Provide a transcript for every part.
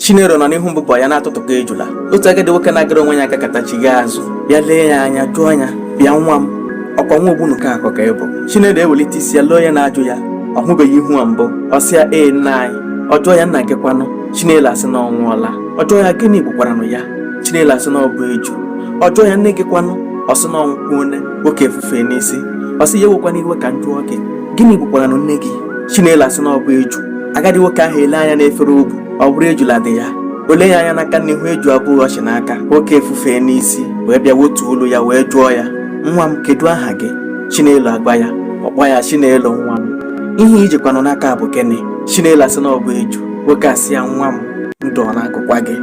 Chinelo nọ n'ihu mbụbọ ya na-atụtụkọ ejula otu agadi nwoke na-agara onwe ya agakata chigha azụ bịa lee ya anya jụọ ya bịa nwa m ọkwa nwa ogbunu ka akọ ka ị bụ Chinelo ewelite isi ya lee onye na-ajụ ya ọ hụbeghị ihu a mbụ ọ sị ya ee nna anyị ọ jụọ ya nna gị kwanụ Chinelo asị na ọ nwụọla ọ jụọ ya gịnị gbukwaranụ ya Chinelo asị na ọ bụ eju ọ jụọ ya nne gị kwanụ ọ sị na ọ nwụkwuone nwoke efufe n'isi ọ sị ya ewekwana iwe ka m jụọ gị gịnị gbukwaranụ nne gị Chinelo asị na ọ bụ eju agadi nwoke ahụ ele anya n'efere o bu ọ bụrụ ejula dị ya o lee ya anya n'aka na ihu eju abụọ ọ chị n'aka nwoke efufee n'isi wee bịa wotuo olu ya wee jụọ ya nwa m kedu aha gị chinelo agwa ya ọ kpọọ ya chinelo nwa m ihe i jikwanụ n'aka bụ gịnị chinelo asị na ọ bụ eju nwoke asị ya nwa m ndụ ọ na-agụkwa gị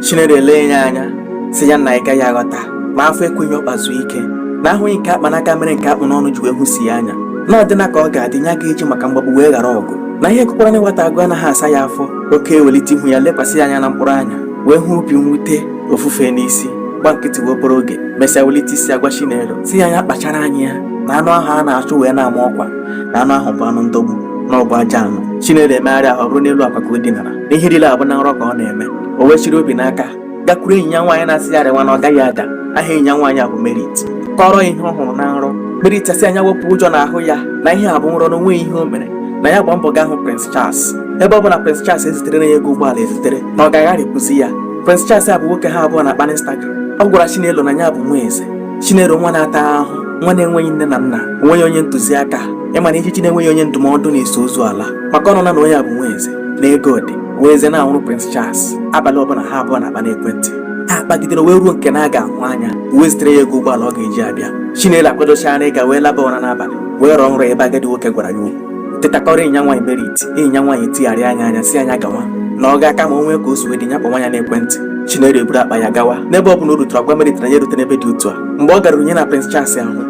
chinelo elee ya anya sị ya nna ị gaghị aghọta ma afọ ekweghị ọkpa zuo ike na ahụghị nke a kpa n'aka mere nke a kpụ n'ọnụ ji wee hụsie anya na ọ dịna ka ọ ga-adị nya aga eji maka mgbagbu wee ghara ọgụ na ihe gụkwarana nwata agụ anaghị asa ya afọ nwoke ewelite ihu ya lekwasị ya anya na mkpụrụ anya wee hụ obi mwute o fufee n'isi gba nkịtị wee obere oge mesịa welite isi agwa Chinelo sị ya nya kpachara anya ya na anụ ahụ a na-achụ wee na-ama ọkwa na anụ ahụ bụ anụ ndọgbu na ọ bụ ajọ anụ Chinelo emegharị ahụ ọ bụrụ n'elu akwa ka o dinara na ihe niile a bụ na nrọ ka ọ na-eme o wee chịrị obi n'aka gakwuru enyi ya nwaanyị na-asị ya rịwa na ọ gaghị ada aha enyi ya nwaanyị a bụ Merit kọrọ ihe ọ hụrụ na nrọ Merit asị ya nya wepụ ụjọ n'ahụ ya na ihe a bụ nrọ na o nweghị ihe o mere na ya gba mbọ gaa hụ Prince Charles ebe ọ bụ na Prince Charles eziterena ya ego ụgbọala ezitere na ọ ga agharịpụzi ya Prince Charles a bụ nwoke ha abụọ na-akpa n'Instagram ọ gwara Chinelo na ya bụ nwa eze Chinelo nwa na-ata ahụ nwa na-enweghị nne na nna o nweghị onye ntụziaka ị ma na ijiji na-enweghị onye ndụmọdụ na-eso ozu ala maka ọ nụna na onye a bụ nwa eze na ego dị wee eze na-anwụrụ Prince Charles abalị ọbụla ha abụọ na-akpa n'ekwentị ha kpagidere wee ruo nke na ha ga-ahụ anya wee zitere ya ego ụgbọala ọ ga-eji abịa Chinelo akwadochara ịga wee laba ụra n'abalị wee rọọ nrọ ebe agadi nwoke gwara ya okwu teta kọọrọ enyi ya nwaanyị merit enyi ya nwaanyị tigharịa ya anya sị ya nya gawa na ọ ga-aka mma o nwee ka o si wee dị nya kpọwa ya n'ekwentị Chinelo eburu akpa ya gawa n'ebe ọ bụla o rutere ọ gwa merit na ya erute n'ebe dị otu a mgbe ọ gara nya na Prince Charles ahụ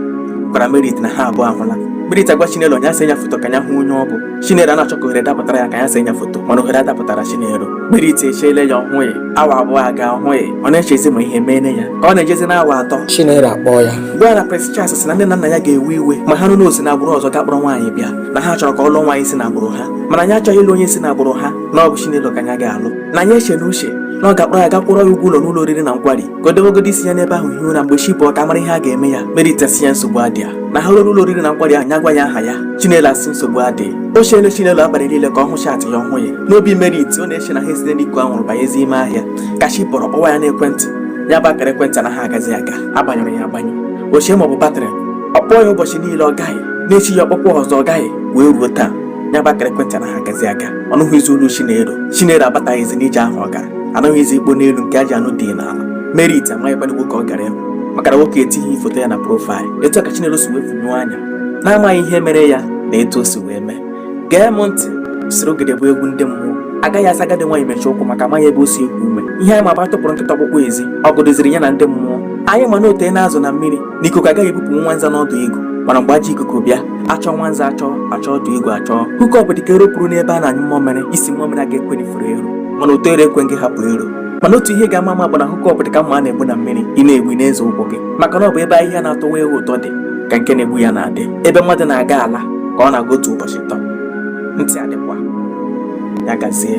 gwara merit na ha abụọ ahụla merit agwa Chinelo nya see ya foto ka ya hụ onye ọ bụ Chinelo ana-achọ ka ohere dapụtara ya ka ya see nya foto mana ohere adapụtara Chinelo Merit echeele ya ọ hụghị awa abụọ agaa ọ hụghị ọ na-echezi ma ihe meene ya ka ọ na-ejezi na awa atọ Chinelo akpọọ ya gwa ya na Prince Charles sị na nne na nna ya ga-ewe iwe ma ha nụ na o si na agbụrụ ọzọ gaa kpọrọ nwaanyị bịa na ha chọrọ ka ọ lụọ nwaanyị si na agbụrụ ha mana nya achọghị ịlụ onye si na agbụrụ ha na ọ bụ Chinelo ka ya ga-alụ na nya eche na uche na ọ ga-akpọrọ ya gaa kwụọrọ ya ụgwọ ụlọ n'ụlọ oriri na nkwari ka o dewegodi isi ya n'ebe ahụ hie ụra mgbe chi bọọ ka a mara ihe a ga-eme ya merit asị ya nsogbu adịa na ha ruo ụlọ oriri na nkwari ahụ nya gwa ya aha ya chinelo asị nsogbu adịghị o cheele chinelo abalị niile ka ọ hụ chaatị ya ọ hụụ ya n'obi merit ọ na-eche na ha esite n'iko anwụrụ banyezi ime ahịa ka chi bọrọ ọ kpọwa ya n'ekwentị ya bụ akara ekwentị anaha agazi aga a gbanyụrụ ya agbanyụ o chee ma ọ bụ batrị ọ kpọọ ya ụbọchị niile ọ gaghị n'echi ya ọ kpọkwuo ọzọ ọ gaghị wee ruo taa ya bụ akara ekwentị anaghị agazi aga ọ nụghịzi olu Chinelo Chinelo abataghịzi n'ije ahụ ọ gara anụghịzi ikpo n'elu nke ajị anụ dị n'ala Merit amaghịkwanụ nwoke ọ gara ịhụ maka na nwoke etighi foto ya na profaịlụ etu a ka Chinelo si wee funyụọ anya na-amaghị ihe mere ya na etu o si wee mee gee m ntị surugede bụ egwu ndị mmụọ agaghị asị agadi nwaanyị mechie ụkwụ maka amaghị ebe o si eku ume ihe anyị ma bụ a tụpụrụ nkịta ọkpụkpụ ezi ọgụ dịziri ya na ndị mmụọ anyị ma na o teena azụ na mmiri na ikuku agaghị ebupụ nwa nza n'ọdụ igu mana mgbe ajọ ikuku bịa achọọ nwa nza achọọ achọọ ọdụ igu achọọ hookup dịka ero puru n'ebe a na-anyụ mmamịrị isi mmamịrị aga ekwenụ i foro ero mana ụtọ ero ekwe gị hapụ ero mana otu ihe ga-ama ama bụ na hookup dịka mma a na-egbu na mmiri ị na-egbu ị na-eze ụkwụ gị maka na ọ bụ ebe ahịhịa na-atọwa ewu ụtọ dị ka nke na-egbu ya na-adị ebe mmadụ na-aga ala ka ọ na-aga otu ụbọchị tọ ntị adịkwa ya gazie